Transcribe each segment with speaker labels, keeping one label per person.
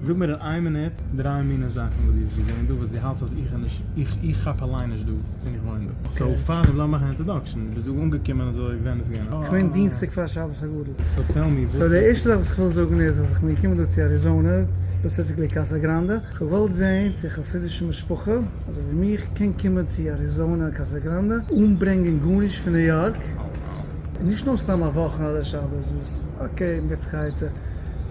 Speaker 1: זאג מיר אין איין מינוט דריי מינע זאכן וואס דו האסט געזען דא וואס דו האלטסט אז איך נישט איך איך כאפ אליין נישט דא פון איך וואוין דא סאו פאר דעם לאז מאכן א אינטראדאקשן דו ביסט דא אנגעקומען אזוי ווען איז געווען א קוים דינסטאג פאר
Speaker 2: שבת הגדול סאו טעל מי וואס סאו די
Speaker 1: ערשטע זאך וואס איך וויל
Speaker 2: זאגן איז אז איך בין געקומען דא צו אריזאנע ספעסיפיקלי קאסא גראנדע איך האב געוואלט זען צו א חסידישע משפחה אזוי ווי מיך קען קומען צו אריזאנע קאסא גראנדע אן ברענגען גארנישט פון ניו יארק און נישט נאר סתם א וואך אדער שבת וואס אקעי מ'געט זיך א עצה.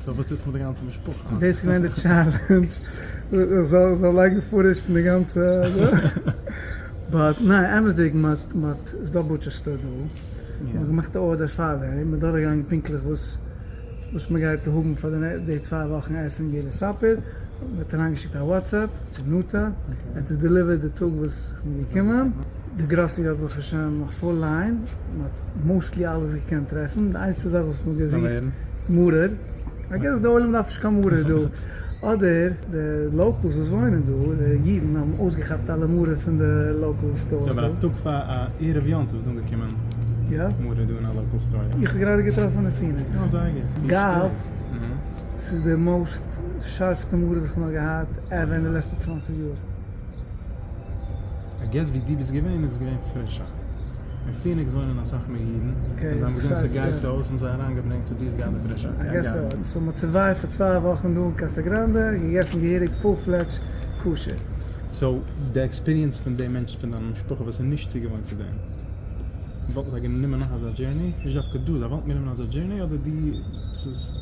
Speaker 2: סאו וואס
Speaker 1: איז מיט די גאנצע משפחה? דאס איז געווען די טשעלענדזש
Speaker 2: איך זאל לייגן פוטעדזש פון די גאנצע באט ניין אמת'דיג מען האט ס'איז דא בוטשער סטאר דא מען האט געמאכט א ארדער פאר דעם מען איז דורכגעגאנגען פונקטליך וואס וואס מען גייט האבן פאר די צוויי וואכן עסן יעדע סאפער מען האט אריינגעשיקט א וואטסעפפ צו נטע ער האט עס דעליווערט די טאג וואס איך בין געקומען. די גראסערי האט ברוך השם נאך פול ליין, מען האט מאוסטלי אלעס געקענט טרעפן, די איינציגסטע זאך וואס מען האט געזוכט מרור, איי געס די עולם דארף נישט קיין מרור דא, אדער די לאקעלס וואס וואוינען דא, די אידן האבן אויסגעכאפט אלע מרור פון די לאקעל סטארס דא. אבער א טאג פאר
Speaker 1: א ערב יום טוב איז אנגעקומען מרור
Speaker 2: דא אין א לאקעל
Speaker 1: סטאר. איך האב גראדע געטראפן אין פיניקס.
Speaker 2: יא זייער גוט.
Speaker 1: גאוו.
Speaker 2: ס'איז די מאוסט שארפסטע מרור וואס כ'האב נאר געהאט עווער אין די לעצטע צוואַנציק יאר.
Speaker 1: איי געס ווי דו ביסט געווען איז עס געווען פרישער. אין פיניקס וואוינען אסאך מער אידן, און זיי האבן געזען ס'גייט אויס האבן
Speaker 2: זיי אריינגעברענגט סאו
Speaker 1: דו איז געהאט די פרישע איי געס סאו. סאו מ'האט
Speaker 2: סורווייווט פאר צוויי וואכן דא אין קאסא גראנדע, געגעסן געהעריג פול פלעדזש כשר. סאו
Speaker 1: די עקספיריענס פון די מענטשן פון דיין משפחה וואס איז נישט צוגעוואוינט צו דעם, וואלטן זיי גענומען נאך אזא דזשערני? נישט דווקא דו, זיי וואלטן גענומען אזא דזשערני אדער דו ס'איז.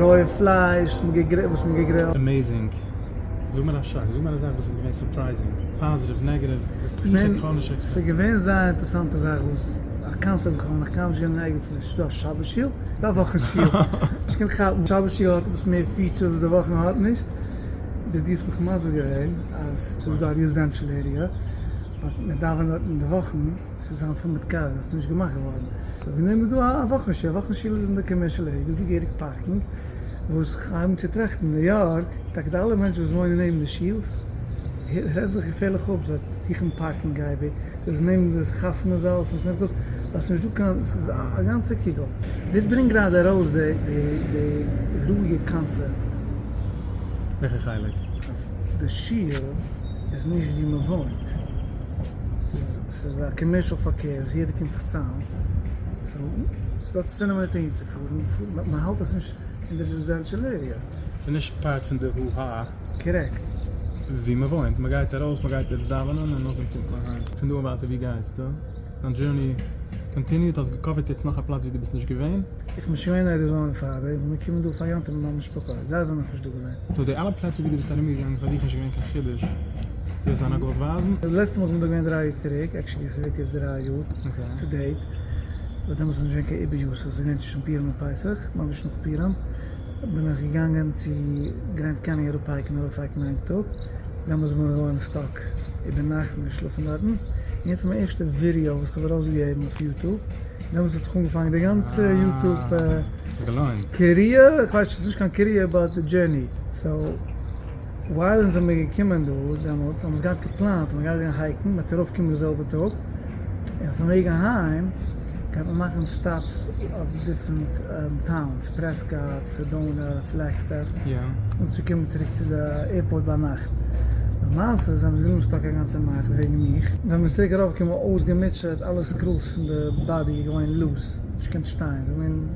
Speaker 2: רויע פלייש וואס מען געגרילט. עמעזינג!
Speaker 1: זאג מיר א שאק, זאג מיר א זאך וואס איז געווען סורפרייזינג, פאזעטיוו, נעגעטיוו, וואס האט נישט געקאנט נישט עקספעקטן.
Speaker 2: ס'איז געווען
Speaker 1: זייער
Speaker 2: אינטערסאנטע זאך וואס א קאנצערט וואס כ'האב נאך קיינמאל נישט גענומען ערגעץ נישט דא שבת שיעור, ס'איז א וואכן שיעור, נישט קיין כאפן, שבת שיעור האט עפעס מער פיטשערס וואס די וואכן האט נישט, ביז דו האסט מיך מסביר געווען אז ס'איז דא א רעזידענשעל עריע באט מען דאווענט דארט אין די וואכן. ס'איז זיין פאן מיט קארס וואס איז נישט געמאכט געווארן. ס'האט גענומען דא א וואך און שיל, א וואך און שיל איז אין די קאמערשעל עריע דאס די געהעריג פארקינג וואס כ'הייב נישט צו טראכטן אין ניו יארק, טאקע די אלע מענטשן וואס וואוינען נעבן די שילס רעדט זיך געפערליך אפ זיי זוכן פארקינג אייביג, דאס איז נעבן די חתונה זאל פון שמחות ווייל ס'נישט דא קיין ס'איז א גאנצע קוגל. דאס ברענגט גראדע ארויס די ראיע קאנסעפט. וועלכע
Speaker 1: חלק? אז די
Speaker 2: שול איז נישט ווי מ'וואוינט. ס'איז א קאמערשעל פארקער וואס יעדער קומט זיך צאם, סאו ס'איז דא צפון אמעריקע אהינצופארן, מ'האלט עס נישט אין די רעזידענשעל עריע. ס'איז נישט פארט
Speaker 1: פון די הו הא. קארעקט.
Speaker 2: ווי
Speaker 1: מ'וואוינט, מ'גייט ארויס, מ'גייט יעצט דאווענען און נאכדעם קומט מען אהיים. פון דא און ווייטער ווי גייסטו? דיין דזשורני קאנטיניוט? האסט געקאווערט יעצט נאך א פלאץ ווי דו ביסט נישט געווען? איך בין שוין געווען אין אריזאנע
Speaker 2: פאראדעי, איך בין געקומען דא פאר יום טוב מיט מיין משפחה, זיי זענען נאכנישט דא געווען. סאו די אלע פלעצער ווי דו
Speaker 1: ביסט ארומגעגאנגען פאר דיך נישט געווען קיין חידוש? זאל עס זיין א גאלד ווייזן. די לעצטע מאל כ'בין דא געווען דרײַ
Speaker 2: יאר צוריק, עקשעלי ס'ווערט יעצט דרײַ יאר טו דעיט, באט דעמאלטס איז נישט געווען קיין איבער יאר סאיז געווען צווישן פורים און פסח, ממש נאך פורים, בין איך געגאנגען צו גרענד קעניען ארויף הייקן, ארויף הייקן איין טאג, דעמאלטס איז מוהרא ן סטאק איבער נאכט און געשלאפן דארטן, און יעצט מיין ערשטע ווידעא וואס כ'האב ארויס געגעבן אויף יוטוב, דעמאלטס האט זיך אנגעפאנגען די גאנצע יוטוב קעריער, כ'ווייס נישט ס'איז נישט קיין קעריער באט די דזשערני, סאו. ווייל אונז זעמיר געקומען דא דעמאלטס האבן אונז געהאט געפלאנט אז מ'גייט גיין הייקן, מ'וועט ארויף קומען די זעלבע טאג, און אויפן וועג אהיים גייט מען מאכן סטאפס אויף דיפרענט טאונס, פרעסקאט, סעדאנא, פלעגסטעף, און צו
Speaker 1: קומען צוריק
Speaker 2: צו די עירפארט ביינאכט. למעשה זעמיר זיך געבליבן סטאק א גאנצע נאכט וועגן מיך. ווען מ'איז צוריק ארויף געקומען אויסגעמוטשעט, אלע סקרולס פון די באדי איז געווען לוס, נישט געקענט שטיין, ס'איז געווען.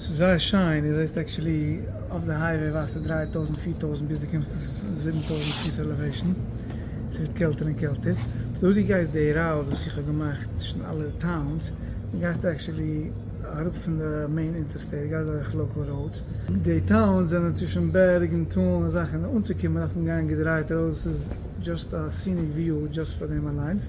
Speaker 2: ס'איז זייער שיין, איר זעסט עקשעלי אויף די הייוועי ווייזטו דרײַ טויזנט פֿיר טויזנט ביז דו קומסט צו זיבן טויזנט פוס עלעוועישן, ס'ווערט קעלטער און קעלטער, אזוי ווי דו גייסט די ראוד וואס איך האב געמאכט צווישן אלע טאונס, דו גייסט עקשעלי אראפ פון די מעין אינטערסטעיט, גייסט דורך לאקעל ראודס, די טאונס זענען צווישן בערג און טאל און אזאלכע, און אנצוקומען דארף מען גיין געדרייט ארויס, ס'איז דזשאסט א סיניק וויו דזשאסט פאר דעם אליינס.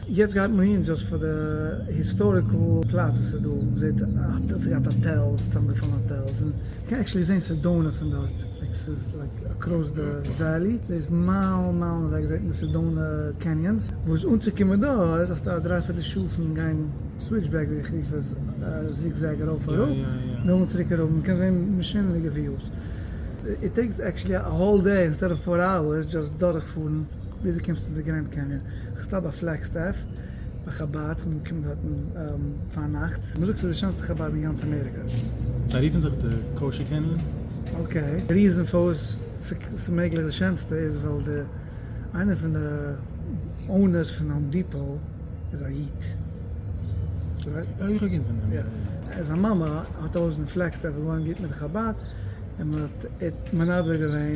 Speaker 2: יעצט גייט מען אהין דזשאסט פאר די היסטאריקל פלאץ וואס איז דא, מען זעט ס'האט געהאט האטעלס, צוזאמגעפאלן האטעלס, און מען קען עקשעלי זען סעדאנע פון דארט, עס איז לייק אקראס די וועלי, דא איז מיילן מיילן אוועק זעט מען סעדאנע קעניאנס, וואס אנצוקומען דא איז האסטו א דריי פירטל שעה פון גיין סוויטשבעק ווי איך רוף עס, זיג זעג ארויף אראפ, נאכדעם
Speaker 1: צוריק אראפ,
Speaker 2: מען קען זען משונה'דיגע וויוס, איט טעיקס עקשעלי א האול דעי אינסטעד אוו פאר אווערס דזשאסט דורכפארן. וויאזוי קומסטו צו די גרענד קעניען? איך סטאפ ביי פלעגסטעף ביי חבד, כ'בין געקומען דארטן פארנאכטס. מ'זאגט ס'איז די שענסטע חבד אין גאנץ אמעריקא. זיי רופן זיך
Speaker 1: די קאושער קעניען. אקעי, די
Speaker 2: ריזען פארוואס ס'איז מעגליך די שענסטע איז ווייל די איינער פון די אונערס פון האום דיפאו איז א איד. אוי איך האב געהערט פון דעם.
Speaker 1: יא. זיין מאמע
Speaker 2: האט א הויז אין פלעגסטעף, איז געווארן גוט מיט די חבד, און מ'האט מנדב געווען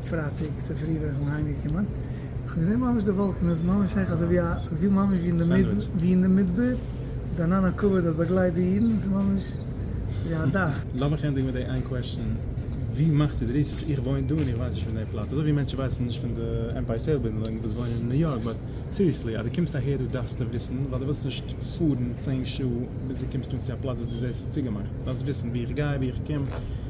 Speaker 2: פרייטאג צופרי בין איך שוין אהיים געקומען, איך האב געזען ממש די וואלקן, עס איז ממש העכער אזוי ווי א געפיל ממש ווי אין די מדבר, די ענן הכבוד האט באגלייט די אידן, עס איז ממש ווי א דאך. לאמיך ענדיגן מיט די איין
Speaker 1: קוועשאן, ווי מאכסטו די ריסערטש? איך וואוין דא און איך ווייס נישט פון די פלאץ, אזוי ווי מענטשן ווייסן נישט פון די עמפייער סטעיט בילדינג וואס וואוינען אין ניו יארק, באט סיריעסלי אז דו קומסט אהער דא דארפסטו וויסן, ווייל דו ווילסט נישט פארן צען שעה ביז דו קומסט אן צו א פלאץ וואס דו זעסט ס'איז צוגעמאכט, דו דארפסט וויסן וואו איך גיי, וואו איך קום.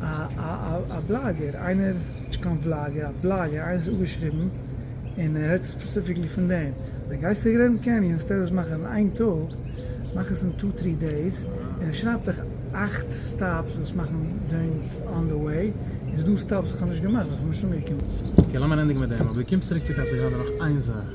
Speaker 2: א בלאגער, איינער, נישט קיין וולאגער, א בלאגער, איינער האט אפגעשריבן און ער רעדט ספעסיפיקלי פון דעם, די גייסט אין גרענד קעניען זאלסטו עפעס מאכן אין איין טאג, מאך עס אין טו טרי דעיס, און ער שרייבט דיך אכט סטאפס זאלסט מאכן דוירינג אן די וועי, איז דא סטאפס וואס איך האב נישט געמאכט ווייל איך בין נישט אנגעקומען. אקעי לאמיר ענדיגן מיט
Speaker 1: דעם, אבער קום צוריק צו קאסא גראנדע נאך איין זאך.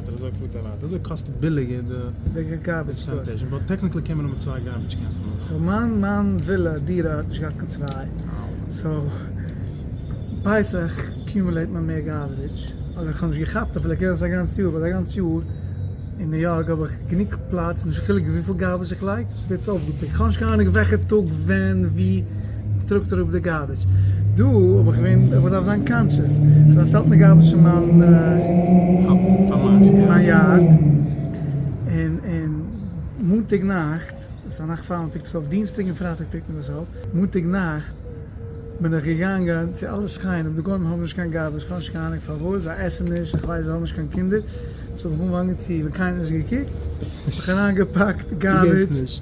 Speaker 1: דער אזוי פארט אליין. דער אזוי קאסט ביליגער די
Speaker 2: פערסענטעזש. און טעקניקלי קען מען
Speaker 1: האבן צוויי גארבידזש קענס אין הויז. סאו מיין מיין
Speaker 2: ווילע דירה האט נישט געהאט קיין צוויי. סאו פסח אקיומעלעיט מען מער גארבידזש. אדער איך האב נישט געכאפט אפילו קען זיין א גאנץ יאר ווייל א גאנץ יאר אין ניו יארק האב איך גענוג פלאץ נישט קיין חילוק וויפיל גארבידזש איך לייג ס'ווערט צו אויפגעפיקט. כ'האב נישט קיין אנונג וועלכע טאג ווען ווי. טראגט אראפ די גארביטש. דא האב איך געווען איך באדארף זיין קאנטשעס. כ'האב באשטעלט מיין גארביטש אין מיין יארד. און און מאנטאג נאכט, וואס א נאכט פאר מען פיקט עס אויף, דינסטאג און פרייטאג פיקט מען עס אויף, מאנטאג נאכט בין איך געגאנגען צו אלע שכנים, די גוים האבן נישט קיין גארביטש, כ'האב נישט קיין אהנונג פארוואס, זיי עסן נישט, איך ווייס זיי האבן נישט קיין קינדער, סאו איך האב אנגעצוהן ווען קיינער האט נישט געקוקט, האב איך אריינגעפאקט גארביטש.